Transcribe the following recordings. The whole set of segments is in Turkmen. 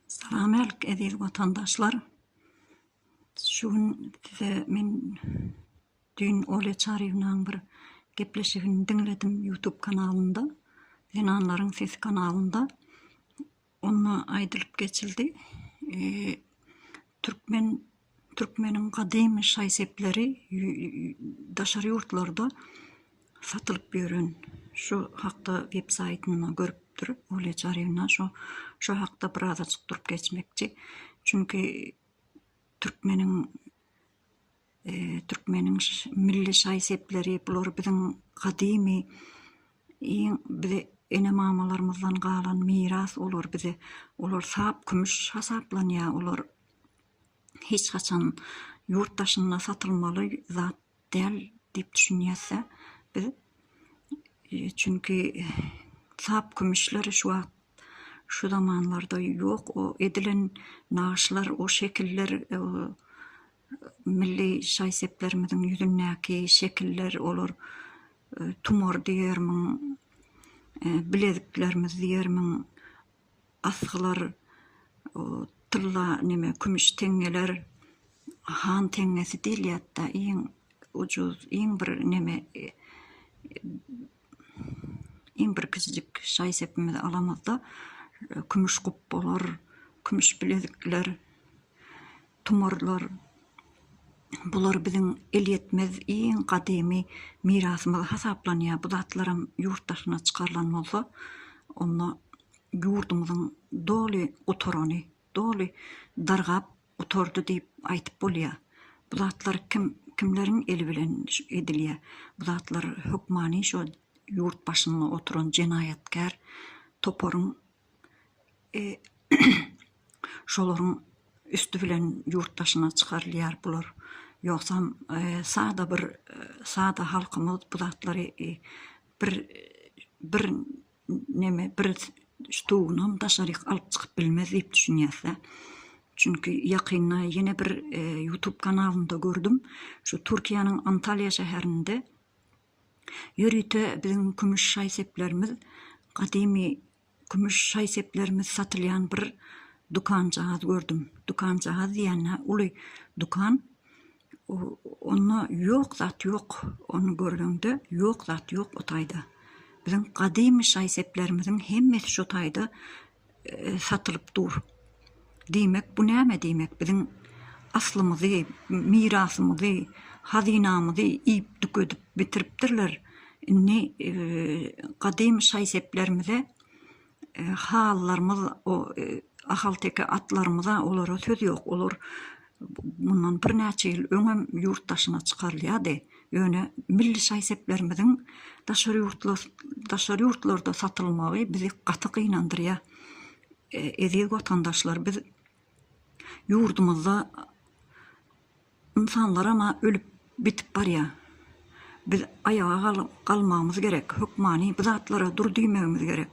Salam älik eziz watandaşlar. Şu gün size men düýn Olýa Çaryýewnaň bir gepleşigini diňledim YouTube kanalynda, Zenanlaryň sesi kanalynda. Onda aýdylyp geçildi, türkmen Türkmeniň gadymy şaý-sepleri daşary ýurtlarda satylyp ýören şu hakda web saýtynda görüpdir Olýa Çarewna şo şo hakda birazajyk durup geçmekçi. Çünki türkmeniň türkmeniň milli şaý-sepleri bular biziň gadymy iň bize ene-mamalarymyzdan galan miras olar bize olar sap kümüş hasaplanýar olar. hiç haçan ýurt daşynda satylmaly zat däl diýip düşünýäs-de biz. Çünki sap kümüşler şu wagt, şu zamanlarda ýok. O edilen nagyşlar, o şekiller, milli şaý-seplerimiziň ýüzündäki şekiller, olar tumar diýermiň, bileziklerimiz diýermiň, asgylar, tylla neme kümüş teňňeler, han teňňesi diýilýärdi-de, iň ujyz, iň bir neme, iň bir kiçijik şaý-sepimizi alamyzda, kümüş gupbalar, kümüş bilezikler. Tumarlar, bular biziň elýetmez iň gadymy mirasymyz hasaplanýar. Bu zatlaram ýurt daşyna çykarylan bolsa, onda ýurdumyzyň doly gutarany, doly dargap gutardy diýip aýdyp bolýar. Bu zatlar kim, kimleriň eli bilen edilýär? Bu zatlar hökmany şo ýurt başynda oturan jenaýatkär toparyň e, şolaryň üsti bilen ýurt daşyna çykarylýar bular. Ýogsam, e, sada bir e, sada halkymyz bu zatlary e, bir bir neme bir stugynam daşaryk alyp çykyp bilmez diýip düşünýäs-dä. Çünki ýakynda ýene bir e, YouTube kanalynda gördüm. Şu Türkiýäniň Antalýa şäherinde Ýörite biziň kümüş şaý-seplerimiz, gadymy kümüş şaý-seplerimiz satylýan bir dükanjagaz gördüm. Dükanjagaz diýende uly dükan. Onda ýok zat ýok. Ony görleňde ýok zat ýok o taýda. Biziň gadymy şaý-seplerimiziň hemmesi şo taýda satylyp dur. Diýmek bu näme diýmek biziň aslymyzy, mirasymyzy, hazynamyzy iýip tükedip bitiripdirler. Indi gadymy şaý-seplerimize halylarymyz o ahalteke atlarymyza olara söz ýok. Olar Mundan birnäçe ýyl öňem ýurt daşyna çykarylýardy, ýöne milli şaý-seplerimiziň daşary ýurtlarda satylmagy bizi gaty gynandyrýar. Eziz watandaşlar, biz ýurdumyzda ynsanlaram-a ölüp Bitip barýa. Biz aýaga galmagymyz gerek, hökmany bu zatlara dur diýmegimiz gerek.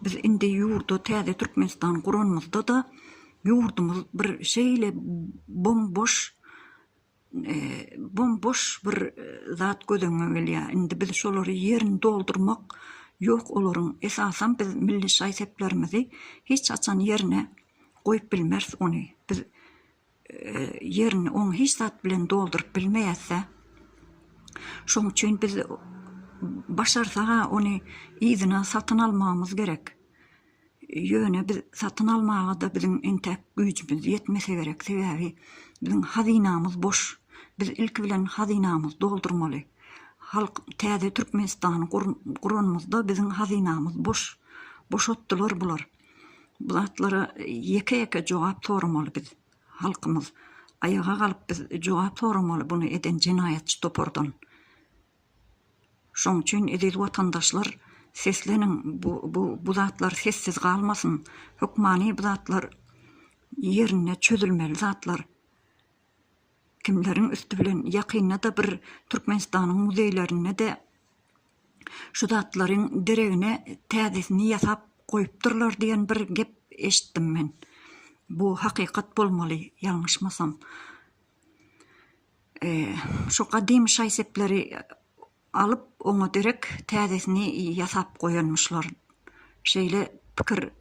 Biz indi ýurda täze Türkmenistan guranymyzda-da ýurdumyz bir şeýle bom-boş, bom-boş bir zat göz öňüňe gelýä. Indi biz şolary ýerini doldurmak ýok olaryň. Esasan biz milli şaý-seplerimizi hiç haçan ýerine goýup bilmeris ony. Biz ýerini oň hiç zat bilen dolduryp bilmeýäs-dä. Şoň üçin biz başarsa-ha ony yzyna satyn almagymyz gerek. Ýöne biz satyn almaga-da biziň entäk güýjümiz ýetmese gerek, sebäbi biziň hazynamyz boş. Biz ilki bilen hazynamyzy doldurmaly. Halk täze Türkmenistany guranymyzda biziň hazynamyz boş. Boşatdylar bular. Bu zatlara ýeke-ýeke jogap soramaly biz, halkymyz. Aýaga galyp biz jogap soramaly bunu eden jenaýatçy topardan. Şoň üçin eziz watandaşlar sesleniň, bu bu bu zatlar sessiz galmasyn. Hökmany bu zatlar ýerinde çözülmeli zatlar. Kimleriň üsti bilen ýakynda-da bir Türkmenistanyň muzeýlerinde-de, Şu zatlaryň deregine täzesini ýasap goýupdyrlar diýen bir gep eşitdim men. Bu hakykat bolmaly, ýalňyşmasam. Şu gadymy şaý-sepleri alyp, oňa derek täzesini ýasap goýanmyşlar. Şeýle pikir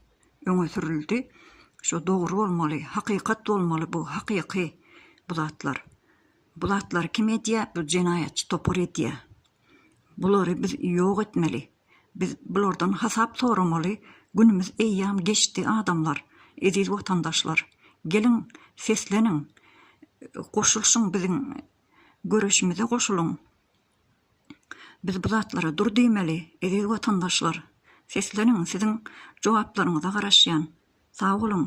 öňe sürüldi. Şu dogry bolmaly, hakykat bolmaly bu, hakyky bu zatlar. Bu zatlary kim edýär? Bu jenaýatçy topar edýär. Bulary biz ýok etmeli. Biz bulardan hasap soramaly günümiz eýýam geçdi adamlar, eziz watandaşlar. Geliň sesleniň goşulşyň biziň göreşimize goşulyň. Biz bu zatlara dur diýmeli eziz watandaşlar. Sesleniň siziň jogaplaryňyza garaşýan. Sag boluň.